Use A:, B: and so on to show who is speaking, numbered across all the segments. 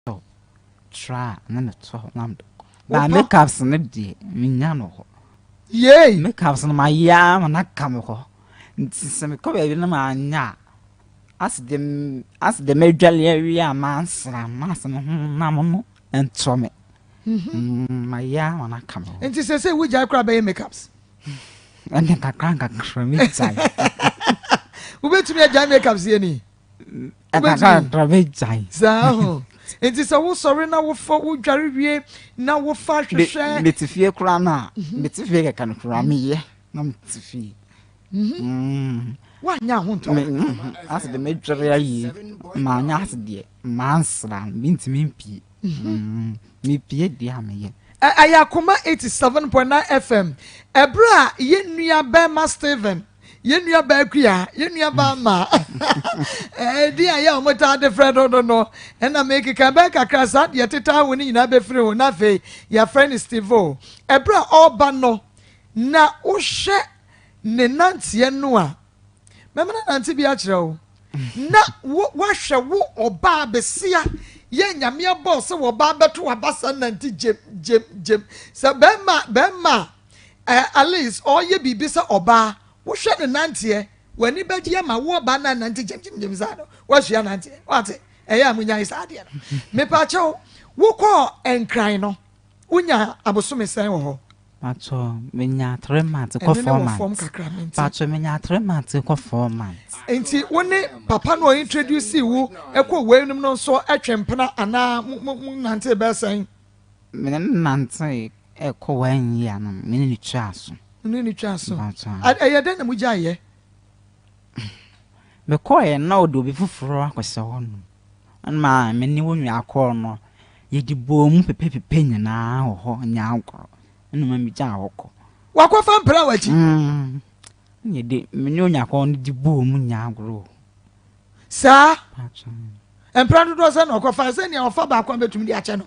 A: Tɔ tra a na me tɔ hɔ na me de kɔ. Ba make ups no deɛ me nya no hɔ. Yay. Make
B: ups no ma yɛ
A: ara ma na ka me hɔ. Nti sɛ me kɔ baabi na ma nya a. As de as de me dwale awie a ma nsra ma asɛ me ho na mo no ntɔ me. Mm-hmm. Ma yɛ ara ma na ka me hɔ. Nti sɛ sɛ wo gya kora
B: bɛyɛ make ups. Ɛnde
A: kakra kakra me gya.
B: Wobɛtumi agya make ups yɛ ni.
A: saa ho
B: nti sɛ wosɔre na wofa wodware wie na wofa hwehwɛ mete fie koraa no a
A: mhm. mete fie kɛka no koraa meyɛ na mete fie mhm.
B: mm. woanyɛ ho ntɔ mhm. ase de
A: medware ayie maanyɛ ase deɛ mansra mentumi mpie mm. mepie deɛ a meyɛ ɛyɛ akoma
B: 87.9 fm ɛberɛ a yɛnnua bɛma steven yɛn nua baa kua yɛn nua baa ma ɛdi a yɛ a wɔn taa de frɛ no no no ɛna mekeka bɛɛ kakra saa deɛ teta ho no nyinaa bɛfiri ho na afei yɛafrɛ no stevo ɛberɛ a ɔreba no na wohwɛ ne nanteɛ no a mɛma no nante bi akyerɛ wo na woahwɛ wo ɔbaa bɛsia yɛ nyameɛ bɔɔ sɛ wɔbaa bɛto waba sa nante gyem gyem gyem sɛ bɛrima bɛrima a Eh, Alice, ɔreyɛ biribi sɛ ɔbaa. Wohwɛ ne nanteɛ, w'ani bɛgye ama wo ɔbaa na nante gyamgyamgyam saa no, woasua nanteɛ. Wate, ɛyɛ a monyae saa adeɛ no. Mepa kyɛw, wokɔɔ nkran no, wonya abosome sɛn wɔ hɔ? Pacho,
A: menya three months kɔ four months. Pacho, menya three months kɔ four months. Nti wo ne
B: papa no introduce wo ɛkɔ wei nom no nso ɛtwe mpena anaa mo nante bɛsɛn? Me ne no
A: nantee rekɔ wannyia no, me ne no twaa aso. Me ne no twaa aso. Mpatsɔ.
B: Ɛyɛ dɛn na mo gyae yɛ?
A: Me kɔɔɛ na ɔde obi foforɔ akɔhyɛ hɔ nom. Ɛma me ne wɔn nua kɔɔ no, yɛde bɔɔ mu pɛpɛpɛpɛ nyinaa wɔ hɔ nyaa agorɔ. Ɛna ɔma me gyaa hɔ kɔ. Wakɔ fa mpira
B: wɔ akyi? Mm. Ɛna
A: yɛde, me ne wɔn nua kɔɔ no de bɔɔ mu nyaa agorɔ wɔ hɔ. saa
B: mpra dodoɔ sɛ na ɔkɔfa sɛ nea ɔfa baako a bɛtumi de akyɛ no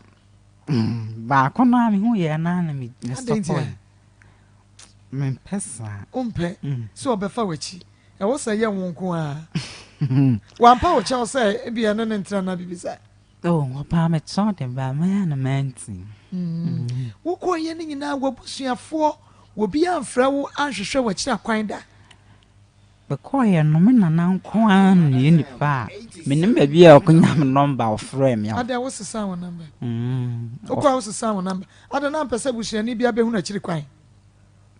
B: mm,
A: baako no a mehu yɛ no a na mesɔpɔe mempɛ saa wompɛ mm.
B: sɛ ɔbɛfa w'akyi ɛwɔ sɛ yɛ wo nko a wampa wo kyɛw sɛ ebia ne ne ntena na biribi saa ɔpaa
A: mekyɛw de baa mɛyɛ no manti
B: wokɔyɛ no nyinaa wabusuafoɔ wɔbi amfrɛ wo anhwehwɛ wakyira kwan da
A: Mekɔeɛ no me nana nko ara nni nipa a menim baabi a ɔkɔnya me nɔmba ɔfrɛɛ me a. Adɛn wo sesaa wo nɔmba?
B: Wokɔɔ a wo sesaa wo nɔmba? Adɛn na ampɛ sɛ abusuani biara bɛhunu akyiri kwan?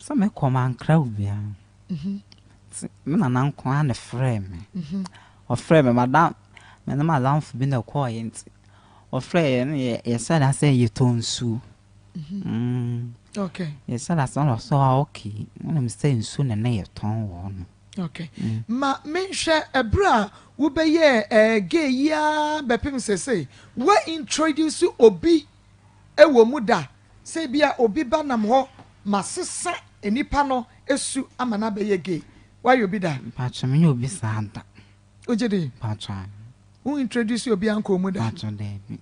B: Sɛ mekɔ
A: mankra obiara nti me nana nko ara na ɛfrɛɛ me. Ɔfrɛɛ me madam me ne madamfo bi na ɛkɔeɛ nti ɔfrɛɛ yɛ ne yɛ yɛhyɛɛ da sɛ yɛtɔ nsuo. Mm.
B: Okay. Yɛ sɛ lasa wɔ so
A: a okay. Wonim sɛ nsu na na yɛtɔn wɔ hɔ no. Okay. Mm. Ma
B: menhwɛ ɛberɛ a wobɛyɛɛ ɛɛ eh, gay yi ara bɛpem sese. Wa introduce obi ɛwɔ mu da sɛ bi a obi ba nam hɔ masesa nipa no su ama no abɛyɛ gay. Woayɛ obi da? Mpakyɛ menyɛ obi saa
A: da. Wogye di?
B: Mpatsɔ a.
A: Wo introduce
B: obiara nkɔɔ mu da? Mpatsɔ daabi.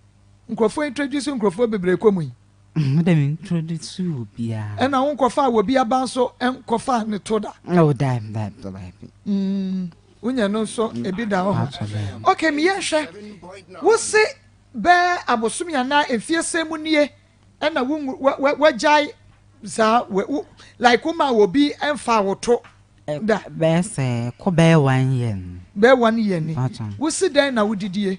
A: Nkorɔfoɔ
B: introduce nkorɔfoɔ bebree kɔ mu yi? Me dɛ me
A: introduce obiara. Ɛna wo nkɔfaa wɔbi
B: aba nso nkɔfaa ne to da? Oh daabi daabi
A: daabi. Mm
B: wonyɛ no nso ebi da hɔ. Mpatsɔ daabi. Okay me yɛnhwɛ, wose bɛɛ abosome anaa mfie sɛn mu nie ɛna wo wo wagyae saa wo wo like wo maa obi ɛnfa wo to da. bɛyɛ sɛ
A: kɔ bɛyɛ one year ni. bɛyɛ one year ni
B: wosi dɛn na wodidie.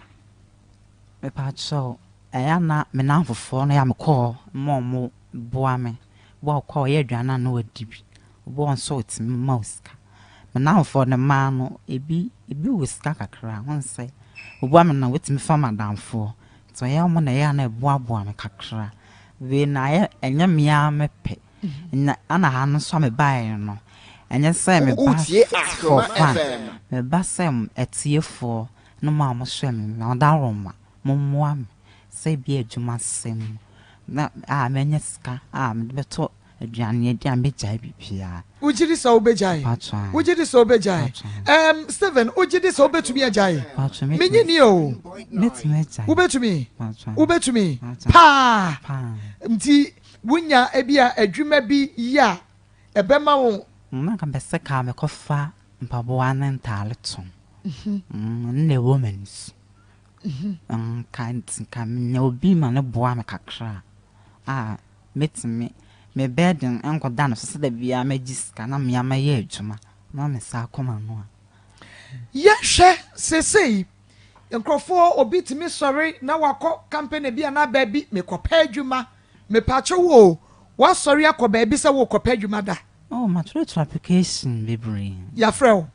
A: mepakyɛw ɛyɛ na me nan fofoɔ no yɛ a mekɔɔ ma ɔmo boa me boa ɔkɔ a ɔyɛ aduane a na wadi bi. Wɔn nso wɔtumi ma wo sika. Me nnamfoɔ no mmaa no, ebi ebi wɔ sika kakra. Ho nsɛ, wɔboa me na wɔtumi fa m'adamfoɔ. Nti ɔyɛ wɔn na ɛyɛ a na ɛboaboa me kakra. Wei na ayɛ ɛnyɛ me ara me pɛ. Nya ana ha no nso a mebaeɛ no, ɛnyɛ sɛ meba for fun. Meba sɛ atiefoɔ ne mo a mohwɛ me no, ɔdawuroma, mommoa me sɛ ebia adwuma sɛm mu na a mɛnya sika a mede bɛtɔ. Aduane a yɛdi a mɛgyae biribiara. Wogye di sɛ wobɛgyae?
B: Mpatsɔ, ae. Wogye di sɛ wobɛgyae? Mpatsɔ, ae. Ɛɛm, Steven, wogye di sɛ wobɛtumi agyae? Mpatsɔ, mɛtumi. Mennye nni o. Mɛtumi agyae.
A: Wobɛtumi? Mpatsɔ, ae. Wobɛtumi?
B: Mpatsɔ, ae. Paa! Paa! Nti, wonya ebia adwuma bi yɛ a, ɛbɛma wo. Mm, na nka mepɛ sɛ ka
A: mekɔfa mpaboa ne ntaade tɔn. Mm, ɛno na ɛwɔ m'ani so. hu. Nka nka minya obi ma no boa me kakra a, mɛtumi me burden nkɔda ne so sɛ da biara mɛgye sika na mea mɛyɛ adwuma na me nsa akɔ m'ano a. Yɛnhwɛ
B: seesei, nkurɔfoɔ, obi tumi sɔre na wakɔ company bi anaa baabi, mekɔpɛ adwuma. Mepaakyɛ wo o, woasɔre akɔ baabi sɛ worekɔpɛ adwuma da? Oh, matwerɛtwerɛ
A: application bebree. Yɛafrɛ wo?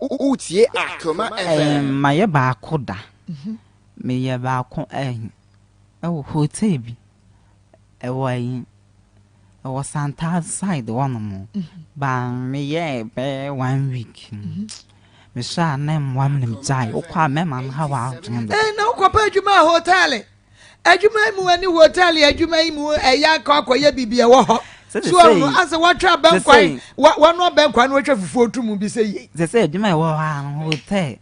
C: Wotie a Kroma FM. Mayɛ baako da.
A: Meyɛ baako ayi ɛwɔ hotel bi ɛwɔ ayi ɛwɔ Santaa side hɔ nom ba meyɛɛ bɛyɛ one week mehwɛ a na mmoa me na megyae wokɔ a mɛma no ha w'adwene dodo. Ɛɛ na wokɔ pɛ adwuma
B: a hotel adwuma yi mu ɛne hotɛl adwuma yi mu ɛyɛ akɔ akɔyɛ biribi ɛwɔ hɔ soɔ no asɛ wɔatwa abɛnkwan wɔn abɛnkwan no wɔatwa fufuo to mu bi sɛ yie. sɛ sɛ adwuma ɛwɔ hɔ
A: a no hotɛl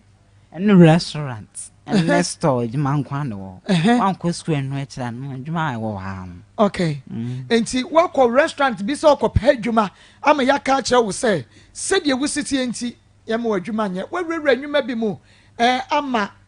A: ɛne restaurant ɛne store adwuma nkwa na wɔ hɔ wankɔ sukuu ɛno akyira no adwuma ɛwɔ hɔ a no. okay
B: mm. nti wakɔ restaurant bi sɛ ɔkɔpɛ adwuma ama yɛaka akyerɛ wo sɛ sɛdeɛ wositeɛ nti yɛma wɔ adwuma nyɛ wawurawura nnwuma bi mu ɛɛ ama.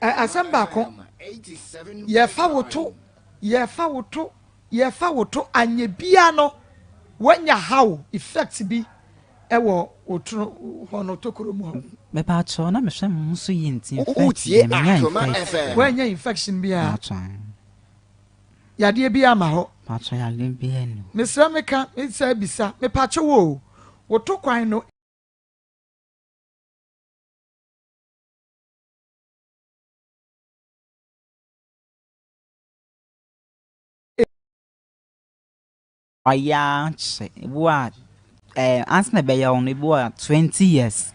B: Ɛ asɛm baako, yɛfa wo to, yɛfa wo to, yɛfa wo to, anyɛ biara no, woanya haw, effect bi wɔ wo tono hɔ no, tokuro mu hɔ. Mepaakyɛw na
A: mehwɛ me ho so yie nti infect deɛ menya
C: infect. Woanya infection biara?
B: Paatwa. Yadeɛ biara ma hɔ? Paatwa yadeɛ biara
A: ni. Mesrɛ meka
B: mesɛ bisa mepaakyɛw o, wo to kwan no.
A: Ɔyɛ ara kyɛ. Ebi wɔ a, ɛɛ ansa na ɛbɛyɛ wo no, ebi wɔ a twenty years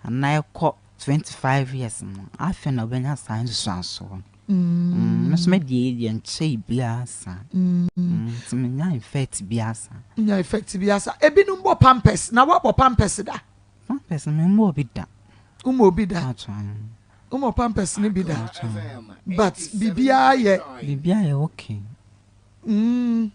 A: anaa ɛkɔ twenty five years no, afei na wobɛnya saa nsusuansoɔ no. Mm, me nso me deɛ yɛ deɛ nkyɛe biara saa. Mm, nti menya effect biara saa. Nya effect biara
B: saa. Ebinom bɔ pampers, na woabɔ pampers da? Pampers me
A: mmɔɔ bi da. Wo mɔɔ bi da?
B: Ato an.
A: Wo mɔɔ pampers
B: no bi da? Ato an. But biribiara yɛ. Biribiara yɛ okay.
A: Mm.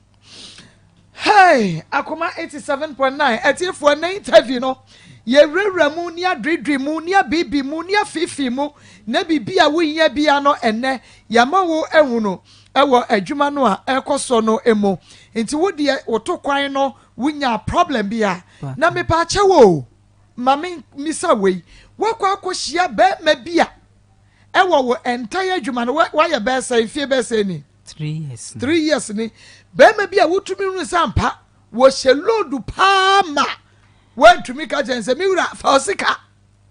B: Hey! Akoma eighty seven point nine atiefoɔ nnɛ interview no yɛwurawura mu ne adwedwe mu ne abibi mu ne afifi mu na biribi a wohia bia no ɛnnɛ yɛama wo ahunu ɛwɔ adwuma no a ɛrekɔ so no mu nti wo deɛ woto kwan no Wo nyaa problem bi a na me paa kyɛw oo ma me misa wei woakɔ akɔ hyia bɛɛma bi a ɛwɔ wo ɛntɛyɛ adwuma no woayɛ bɛɛsɛ mfie bɛɛsɛ ni three
A: years ni
B: bɛɛma bi a wotumi hu sɛ ampa wɔhyɛ load paa ma woantumi ka kyɛn sɛ me wura fa ɔsika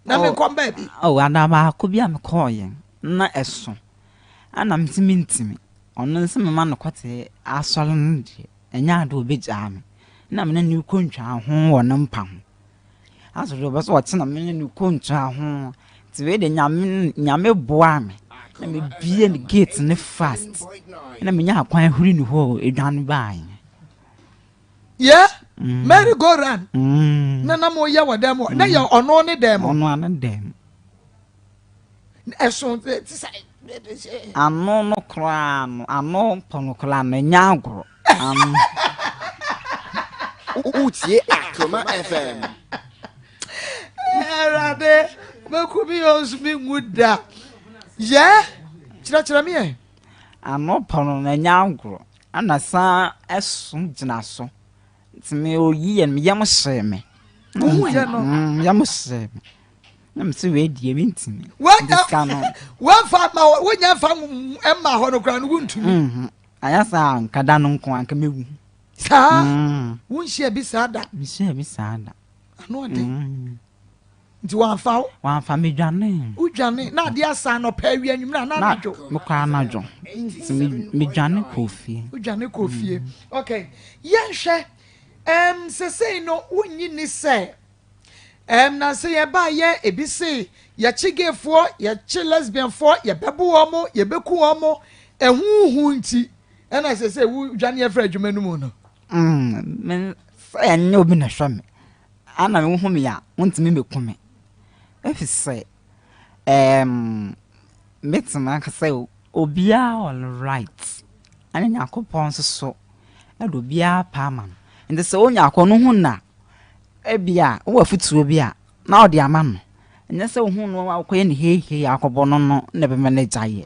B: na me nkɔ mbaa bi oh ana baako bi a me
A: kɔɔ yɛn na ɛso ana ntimi ntimi ɔno nso mema no kɔte asɔre no deɛ Nnyɛ adze a obegyaa me na menye no ekontwaa ho wɔ ne mpa ho. Naaso dza ɔwɔ dɛ ɔtse na menye no ekontwaa ho tse wei de, Nyame Nyame boaa me na mebue ne gate no fast na menyaa kwan huri no hɔ edwan bae.
B: Yɛ merry go round na na mo yɛ wɔ dɛm hɔ na yɛ ɔno ne dɛm. Ɔno ne dɛm. Ano
A: no koraa no, ano pɔ no koraa no, ɛnyɛ agorɔ.
C: Wotie Akroma FM. Awurade,
B: wobɛku me yɛ ɔsumi ngu da. Yɛ, kyerɛkyerɛ me ɛ. Ano pɔ
A: no, ɛnyɛ agorɔ. Ɛna san ɛso gyina so. Nti me oyi yɛ, me yam hyee me. Wohu yɛ no?
B: Mm, yam hyee me.
A: na mese wei deɛ mentumi wamfa ma
B: wonya mfa ma hɔ no koraa no wontumi mhm. ayɛ saa
A: nka da no nko anka mɛwu saa mm.
B: wonhyia bi saa da mehyia bi saa da
A: ano ɔde
B: mm. nti wamfa wo wamfa medwane
A: wodwane na ade
B: asa nɔpɛ awi anwummerɛ a na anadwo mekɔ anadwo
A: nti medwane kɔɔ fie wodwane kɔɔ fie mm.
B: ok yɛnhwɛ um, sesei no wonnyi ni sɛ Ɛm na sɛ yɛbaa yɛ ebi se yɛkye gayfoɔ yɛkye lesbianfoɔ yɛbɛbo wɔn mo yɛbɛku wɔn mo ɛho hu nti ɛna sɛ sɛ wodwane afiri adwuma no mu no mm,
A: sɛ ɛnyɛ obi na hwɛ me ana wohu me a wontumi mɛku me ɛfiri sɛ um, mɛtumi aka sɛ obiara all right ɛne nyankopɔn nso so ɛde obiara paa ma no nti sɛ wonya akɔ no ho na Ebia wowɔ afotuo bi a na wode ama no. Ɛnyɛ sɛ wohuu no a wokɔyɛ no heihei ara kɔbɔ no no na ɛbɛma no agyaeɛ.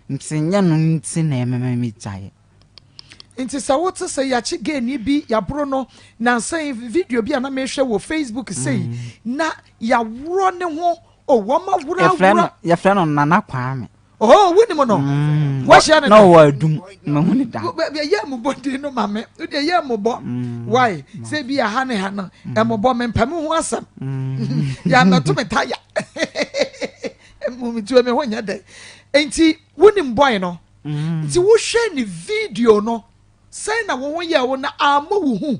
A: Nti nyɛ no nti na ɛbɛma wagyaeɛ. Nti
B: sɛ wote sɛ yɛakye gayni bi, yɛaboro no, nansa yi video bi a na mehwɛ wɔ Facebook sei na yɛaworɔ ne ho o, wɔaworɔ aworɔ. Yɛfrɛ no Nana
A: Kwame. Oh, wonim no.
B: Mm, Wahyia ne da. Na ɔwɔ adum. Mahu
A: ne da. Yɛ mmobɔ din
B: no ma me. Wodeɛ yɛ mmobɔ. Mm, Why? Sɛ bi aha ne ha no. Mmobɔ mm. me mpɛ me ho asɛm. Yɛ mmɛto me taya. Mmumitue me ho nyɛ dɛ. Nti wonim bɔe no. Nti wohwɛ ne video no. Sɛn na wo ho yɛ wo na ammɔ wo hu.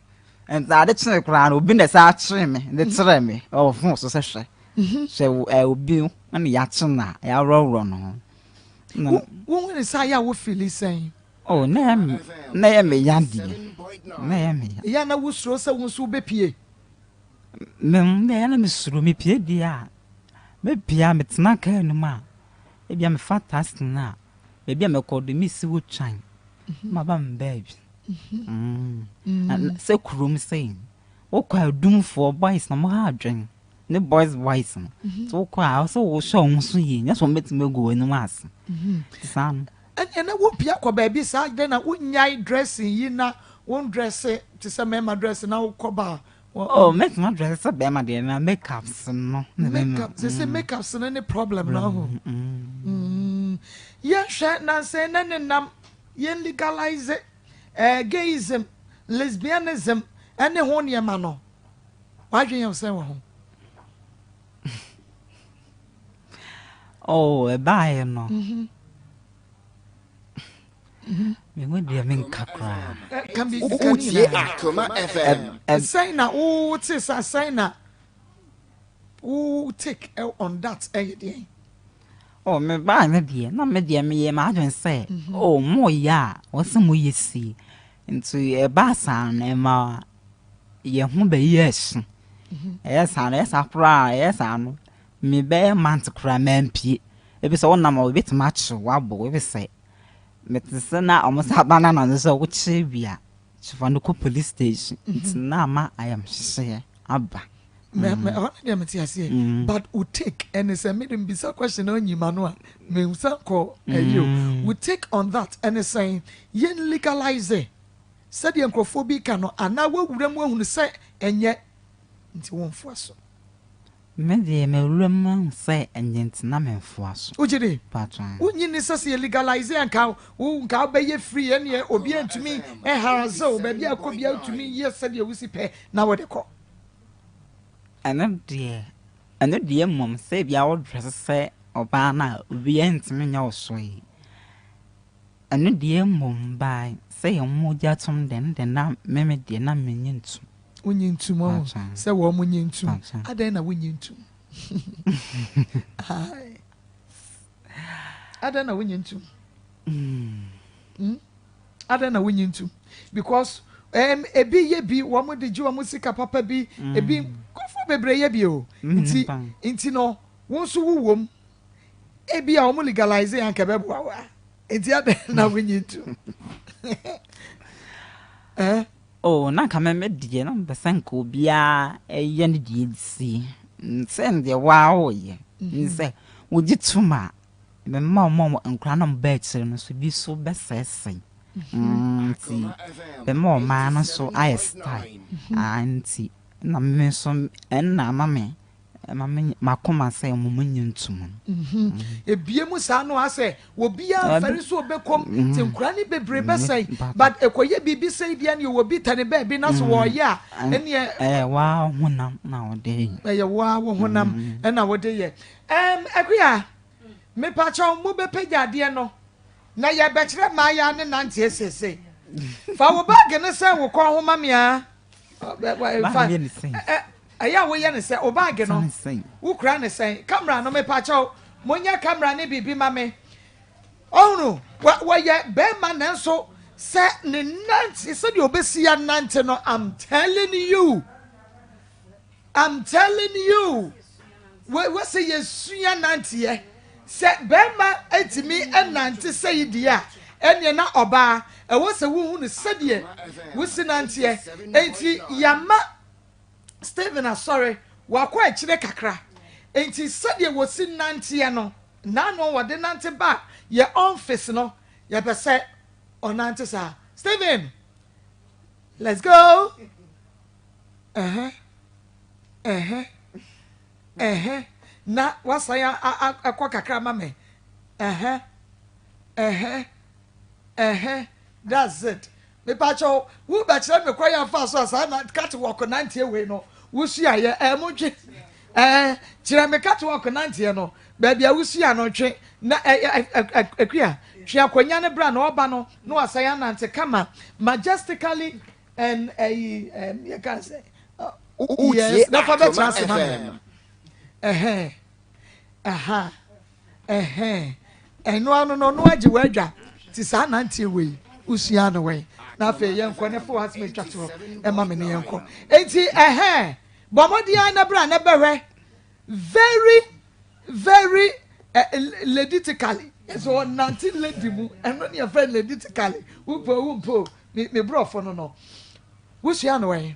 A: nti ade kyee koraa no obi na ɛsɛ akyee me de kyerɛ me ɔwɔ fon so sɛ hwɛ mhm. hwɛ eh, obi na yɛakye no a yɛaworɔworɔ no ho
B: wohu ne saa yɛ a wofili sɛn oh,
A: na yɛ me ya deɛ na yɛ me ya yɛ na wosuro sɛ wo
B: nso wobɛpie mem
A: na yɛ na mesuro mepie deɛ a mepie a metena kaa no mu a ebia mefa task no a baabi a mɛkɔ do mesi hɔ twann na maba me baabi. Sɛ kurom sei no, wokɔ a dumfoɔ boys na wɔha adwene ne boys boys no nti wokɔ a ɛwɔ sɛ wohyɛ wɔn so yie nyɛ sɛ wɔbɛtumi agu w'anim ase nti saa no. Ɛnna na wopia
B: kɔ baabi saa dɛn na wonyae dressing yi na wɔn dresse te sɛ mmarima dresse na wokɔ baa Oh make no
A: dress sɛ bɛrima deɛ na make ups no. Make up sɛ sɛ
B: make ups no ne problem no ho. Yɛnhwɛ nansɛn na ne nam yɛn legalize eh, gayism, lesbianism ɛne ho nneɛma no. Wadwen yɛn sɛn wɔ ho?
A: Oh ɛbaeɛ no. Mm-hmm. meho deɛ menka koraa
B: wotie akoma
C: fm ɛsɛn na wote
B: sa sɛn na wo take on that ɛyɛ deɛ Oh,
A: me baa no deɛ na me deɛ meyɛ m'adwen sɛ oh, moyɛ a wɔse moyɛ sie nti ɛbaa saa no ɛma yɛ ho bɛyɛ asu ɛyɛ saa no ɛyɛ saa koraa ɛyɛ saa no Me bɛyɛ month koraa mampie ebisɛ wo nam a obetumi akyew wabo ebisɛ mete se na ɔmo sa ba na nanso sɛ wo kye bi a kye fa no kɔ police station nti na ama ayamhyehyeɛ aba. Me me ɛhɔ
B: no deɛ me te aseɛ but wo take ɛne sɛ me de me bisa question na ɔnyi ma no a me nsan kɔ ɛyi o wo take on that ɛne sɛn yɛn legalize sɛdeɛ nkorɔfoɔ bi ka no anaa wawura mu ahunu sɛ ɛnyɛ nti wo nfoa so. Me
A: deɛ mewura mu mahu sɛ ɛnyɛ nti na me nfoa so. Wogye di? Paatwaa.
B: Wonnye nni
A: sɛ sɛ yɛ
B: legalize a nka wo nka wo bɛyɛ free ɛneɛ obiaa ntumi ɛnharase wo baabi a wokɔ biaa wotumi yɛ sɛdeɛ wosi pɛ na wode kɔ.
A: Ɛno deɛ ɛno deɛ mmom sɛ ebia wo dresse sɛ ɔbaa no a obiaa ntumi nyɛ wo soe ɛno deɛ mmom by sɛ yɛ mogya tom deɛ ɛno deɛ na me me deɛ na menye ntom. Wonnye ntom,
B: wahu sɛ wɔn nyɛ ntom. Adɛn na wonnye ntom? Adɛn na wonnye ntom? Hmm? Adɛn na wonnye ntom? Because um, ebi yɛ bi, wɔn de gye wɔn sika papa bi, hmm. ebi nkurɔfoɔ bebree yɛ bi o. Hmm, nti nti no, wɔn nso wowɔ mu. Ebi a wɔn legalize yɛn anka ɛbɛboa wa. Nti adɛn na wonnye ntom? Eh?
A: Oh, na anka me me deɛ, na mepɛ sɛ nka obiara yɛ ne deɛ si. Sɛ deɛ waa woyɛ, ne sɛ wogye tom a, mema ɔma ɔmo nkora na ɔmo ba akyire no so bi so bɛsɛesɛe. Nti, mema ɔmaa no so ayɛ style. Nti, na me nso ɛnna ama me. Ɛma me m'akoma sɛ mo mo nyɛ ntu mu.
B: Ebie mu saa no asɛ obiaa nfɛre so obɛkɔm nti nkora ne bebree bɛsɛe but ɛkɔyɛ biribi sei deɛ neɛ obi tɛne baabi na so ɔɔyɛ a ɛneɛ Ɛyɛ woaa wo honam
A: na wode yɛ. Ɛyɛ woaa wo honam
B: na wode yɛ. Ɛɛm Akua, mepakyɛw mo bɛpagya adeɛ no na yɛɛbɛkyerɛ mmaayaa ne nanteɛ seesei. Fa wo bag no sɛn wo kɔn ho ma me aa. Bag no yɛ ne sɛn? Ɛyɛ a woyɛ no sɛ wo baage no wo kura no sɛn camera no mepakyɛw mo nyɛ camera ne biribi ma me ɔhunu wɔyɛ bɛɛma nanso sɛ ne nante sɛdeɛ obesi anante no I'm telling you I'm telling you wɔ wɔ sɛ yɛsua nanteɛ sɛ bɛɛma etimi ɛnante sɛ yi deɛ a ɛneɛ na ɔbaa ɛwɔ sɛ wohunu sɛdeɛ wosi nanteɛ enti yama Stephen asɔre, wakɔ akyire kakra, enti sɛdeɛ wɔsi nanteɛ no, nnaano a wɔde nante ba yɛn ɔmfis no, yɛpɛ sɛ ɔnante saa. Stephen, let's go! Ɛhɛ, ɛhɛ, ɛhɛ, na wasan akɔ kakra ma me. Ɛhɛ, ɛhɛ, ɛhɛ, that's it. Mepakyɛw, wo bɛ kyerɛ me kwan yɛ nfa so a saa na cut walk nanteɛ wei no wo sua yɛ ɛɛ mo ntwe ɛɛ kyerɛ me cut walk nanteɛ no baabi a wo sua no ntwe na ɛɛ ɛkua twe akonya ne bra na ɔba no na wasan anante kama majestically and ɛyi ɛɛ yɛ kan sɛ yes na fa bɛ kyerɛ ase ma ɛhɛn ɛha. Ɛhɛn, ɛno ano no no agye w'adwa te saa nanteɛ wei wosuaa no wɛn? Na afei yɛnkɔ na fa w'asem atwa to hɔ ma me ne yɛnkɔ. Enti ɛhɛn, bɔ mmɔden ara na bra na bɛhwɛ very very laditically. Ɛsɛ ɔnante lady mu, ɛno ne yɛfrɛ no laditically, wopɛ o wompɛ o, me me borɔfo no no wosuaa no wɛn?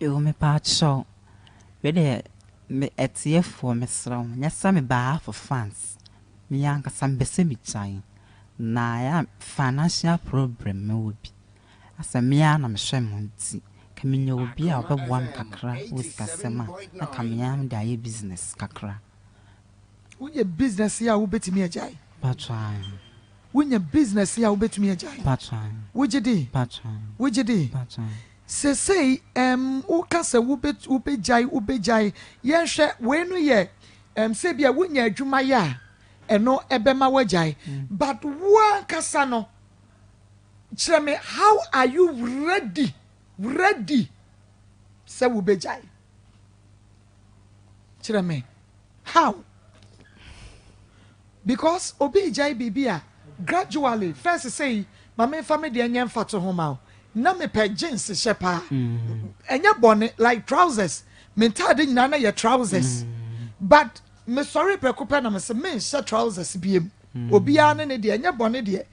A: Ewo mepaakyɛw wei deɛ me atiefoɔ mesrɛ mo nyɛ sɛ mebaa for fans me ankasa mepɛ sɛ megyae na ɛyɛ a financial problem mewɔ bi asɛ me ara na mehwɛ me ho nti ka menya obi a ɔbɛboa me kakra wɔ sikasɛm a na ka me ara mede ayɛ business kakra.
B: Wonya business a wobɛtumi agyae?
A: Mpakyɛw ae. Wonya
B: business a wobɛtumi agyae? Mpakyɛw ae. Wogye di?
A: Mpakyɛw
B: ae. Wogye di?
A: Mpakyɛw ae. Sesei ɛm woka sɛ wobɛ wobɛgyae wobɛgyae, yɛnhwɛ wei no yɛ ɛm sɛ bia wonya adwuma yɛ a ɛno ɛbɛma wagyae but wo ankasa no kyerɛ me how are you ready ready sɛ wobɛgyae. kyerɛ me how because obi regyae biribi a gradually first sei ma memfa me deɛ nyɛ mfato ho ma wo na mepɛ jeans hyɛ paa mm. ɛnyɛ bɔne like trousers me ntaade nyinaa na yɛ trousers mm. but mesɔre prɛko pɛ na mese menhyɛ trousers biem mm. obiara ne ne deɛ ɛnyɛ bɔne deɛ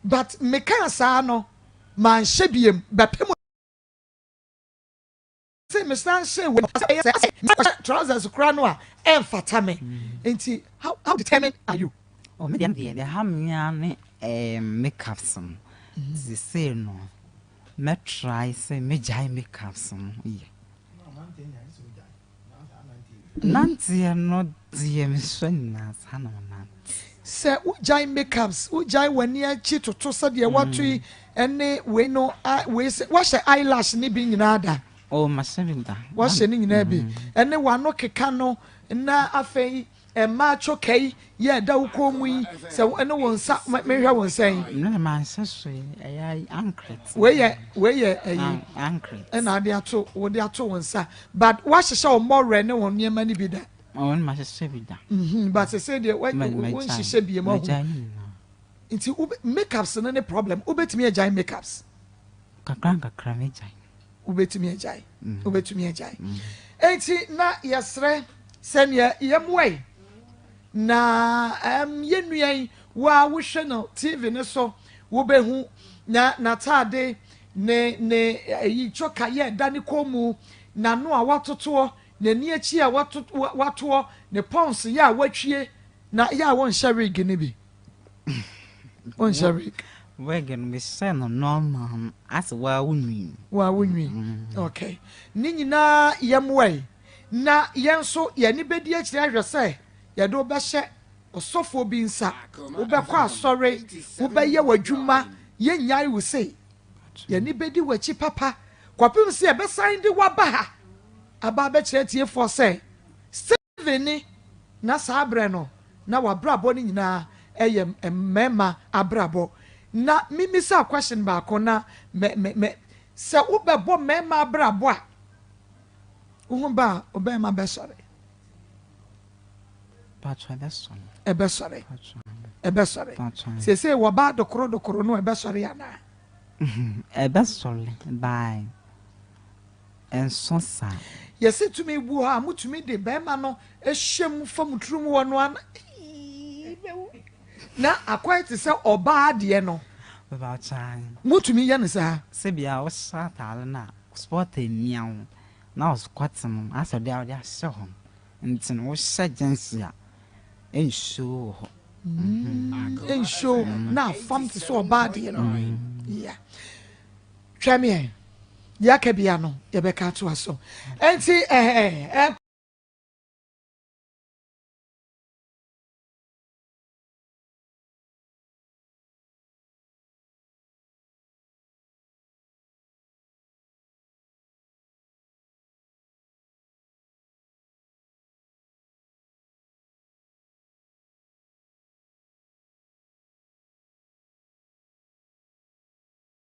A: but mekaa saa no manhyɛ biem bɛpem Sɛ mesan hyɛ wei sɛ ɛyɛ sɛ mekɔhyɛ trousers koraa no a ɛmfata me mm. nti how how determined are you. Oh, me deɛ deɛ ɛha mmea ne eh, makeups no mm-hmm. sesei no mɛtrae sɛ mɛgyae makeups no yɛ nanteɛ no deɛ mesɔ nyinaa saa na ɔnante sɛ
B: wogyae makeups wogyae w'ani akyi toto sɛdeɛ wato yi mm. ɛne wei no a wei sɛ wɔhyɛ eyelash ne bi nyinaa da. Oh, masɛ bi da.
A: Wɔhyɛ ne nyinaa bi
B: mm-hmm. ɛne wano keka no na afei mmaa choka yi yɛ ɛda wo kɔn mu yi sɛ ɛne wɔn nsa mehwɛ wɔn nsa yi. ne na maa nsa so
A: yi ɛyɛ ankret. wei yɛ wei
B: yɛ ɛyi ankret
A: ɛna ade ato
B: wɔde ato wɔn nsa but wɔahyehyɛ wɔn mɔwerɛ ne wɔn nneɛma no bi da. wɔn ma hyehyɛ bi
A: da. Mm-hmm. but sɛ sɛ deɛ
B: wɔn nhyehyɛ bi mu ahu. Nti wobe makeups no ne problem wobetumi agyae makeups. Kakra nkakra
A: mɛgyae. Wobetumi
B: agyae wobetumi agyae enti na yɛsrɛ sɛ nea yɛmmoa yi na ɛm yɛn nua yi wo a wohwɛ no TV no so wobehu na n'ataade ne ne ɛyi choka yɛ ɛda ne kɔn mu n'ano a watotoɔ n'ani akyi a watotoɔ ne pons yɛ a watwie na yɛ a wɔnhyɛ wig no bi. wonhyɛ wig wig no mehyɛ
A: no normal no asɛ waa wonwi waa wonwi mm.
B: ok ne nyinaa yɛmmoa yi na yɛn nso yɛne bɛdi akyiri ahwɛ sɛ yɛde wobɛhyɛ ɔsɔfoɔ bi nsa wobɛkɔ asɔre wobɛyɛ w'adwuma yɛnnyae wo sei yɛne bɛdi w'akyi papa kɔpem sɛ yɛbɛsan de waba ha aba abɛkyerɛ tiefoɔ sɛ Kevin ne, na saa berɛ no, na w'abrabɔ no nyinaa yɛ mmarima abrabɔ. Na memmisa question baako na mɛ, mɛ, mɛ, sɛ wobɛbɔ mmarima abrabɔ a, wo ho ba a, ɔbarima bɛsɔre?
A: Paatwa ɛbɛsɔre. Ɛbɛsɔre. Paatwa.
B: Ɛbɛsɔre. Paatwa. Seesei wɔbaa dokoro dokoro no ɛbɛsɔre anaa?
A: Ɛbɛsɔre by ɛnsõ saa. Yɛse tumi gu
B: hɔ a motumi de bɛɛma no hyɛ mu fa mo tiri mu wɔ no ana eii mɛwu na akɔɛ te sɛ ɔbaa deɛ no
A: motumi yɛ no saa.
B: Sɛ bia wo hyɛ
A: ataare no a spot amia wo na wo skɔte no asɛ deɛ a wode ahyɛ hɔ no nti no wo hyɛ gyɛnsi a ɛnshow wɔ hɔ
B: ɛnshow na afam te sɛ ɔbaa deɛ no yeah. Twɛm yɛn. Deɛ aka bia no, yɛbɛka atoa so. Ɛnti ɛhɛ ɛ.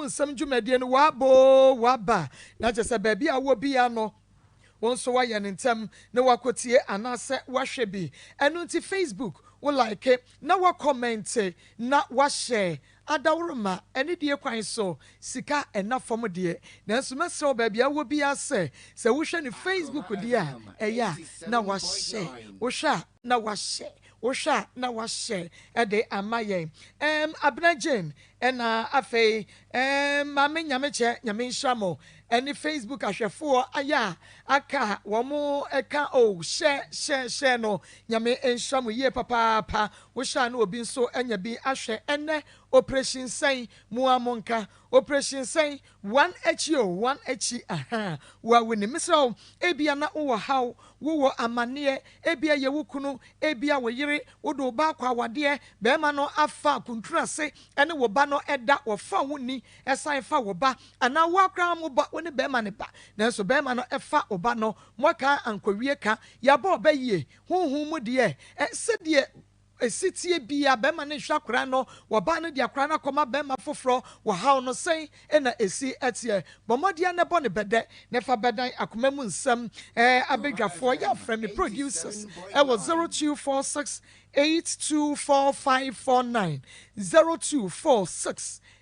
B: Wo nsɛm dwumadie no w'aba oo w'aba na kyerɛ sɛ baabi a wowɔ biara no wo nso w'ayɛ no ntɛm na w'akɔtie anaasɛ w'ahwɛ bi ɛno nti facebook wo like na w'akɔmɛnte na w'ahyɛ adaworoma ɛne deɛ kwan so sika ɛna fam deɛ nanso mɛsrɛ wo baabi a wowɔ biara sɛ sɛ wohwɛ no facebook deɛ a ɛyɛ a na w'ahyɛ wohwɛ a na w'ahyɛ wohwɛ a na w'ahyɛ ɛde ama yɛn ɛɛm Abena Jane Ɛna afei Maame Nyamekyɛ Nyame nhyira mo ɛne Facebook ahwɛfoɔ ayɛ a aka a wɔn ɛka oo hyɛ hyɛ hyɛ no Nyame nhyira mo yie papaapa wohyɛ a na obi nso anya bi ahwɛ ɛnɛ operation sɛn mua monka operation sɛn Wɔn akyi o, wɔn akyi ahaa. Wawu ni, mesrɛ wo, ebia na wowɔ haw, wowɔ amanneɛ, ebia ɛyɛ wo kunu, ebia wo yere, wode wo ba akɔ awadeɛ, barima no afa akuntunu ase ne wo ba no da, wɔfa wo ni san fa wo ba, anaa wo ara koraa mo ba, wo ne barima no ba, nanso barima no fa wo ba no, moaka ankɔwie ka, yɛabɔ ɔbɛ yie, honhom mu deɛ, sɛdeɛ. Setsie bi a bɛrima no nhwɛ akwadaa no, ɔbaa no de akwadaa no akɔma bɛrima foforɔ wɔ haw no, sɛn na esi teɛ? Bɔ mmɔden ara na bɔ no bɛdɛ na fa bɛdan akoma mu nsɛm. Ɛɛ abadwafoɔ, yɛafrɛ me producers wɔ zero two four six eight two four five four nine, zero two four six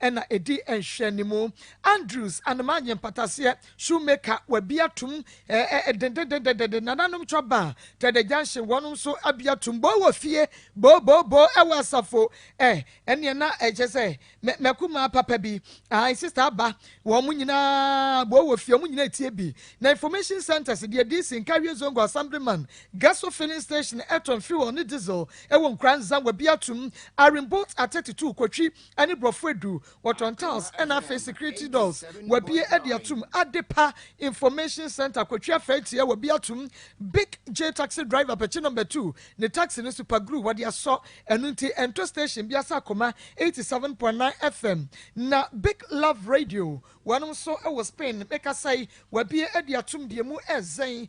B: ɛna ɛdi nhwɛanimu. Andrews, Anoma nye Mpataseɛ, Shoemaker, Wabia Tum, ɛɛ dendendendendenden, Nananom Twa Baa, Tɛdɛ Junction, wɔnom nso abia tum, Boo wɔ fie, Boo Boo Boo ɛwɔ asafo, ɛɛ ɛneɛ na ɛkyɛ sɛ mɛ mɛkumaa papa bi, ae sister aba, wɔnom nyinaa Boo wɔ fie, wɔnom nyinaa ɛtie bi, na information centers deɛ DC, Nkawie Zongo, Assemblyman, Gaso Filling Station, Ɛtɔn Fuel ne Diesel ɛwɔ Nkuranza, Wabia Tum, Iron Bolt Atɛtɛ Tuu Kotwi, ɛne brɔfo aduru, wɔtɔn tiles ɛna afei security doors wabie ɛde atum, adepa information center kɔtwi afɛi tia wabie atum, big J taxi driver pɛkyi number two ne taxi no super glue wɔde asɔ, ɛno nti ɛntɔ station bia sɛ akoma 87.9 FM na big love radio wɔnom nso ɛwɔ Spain me kasa yi wabie ɛde atum deɛ mu ɛzɛn.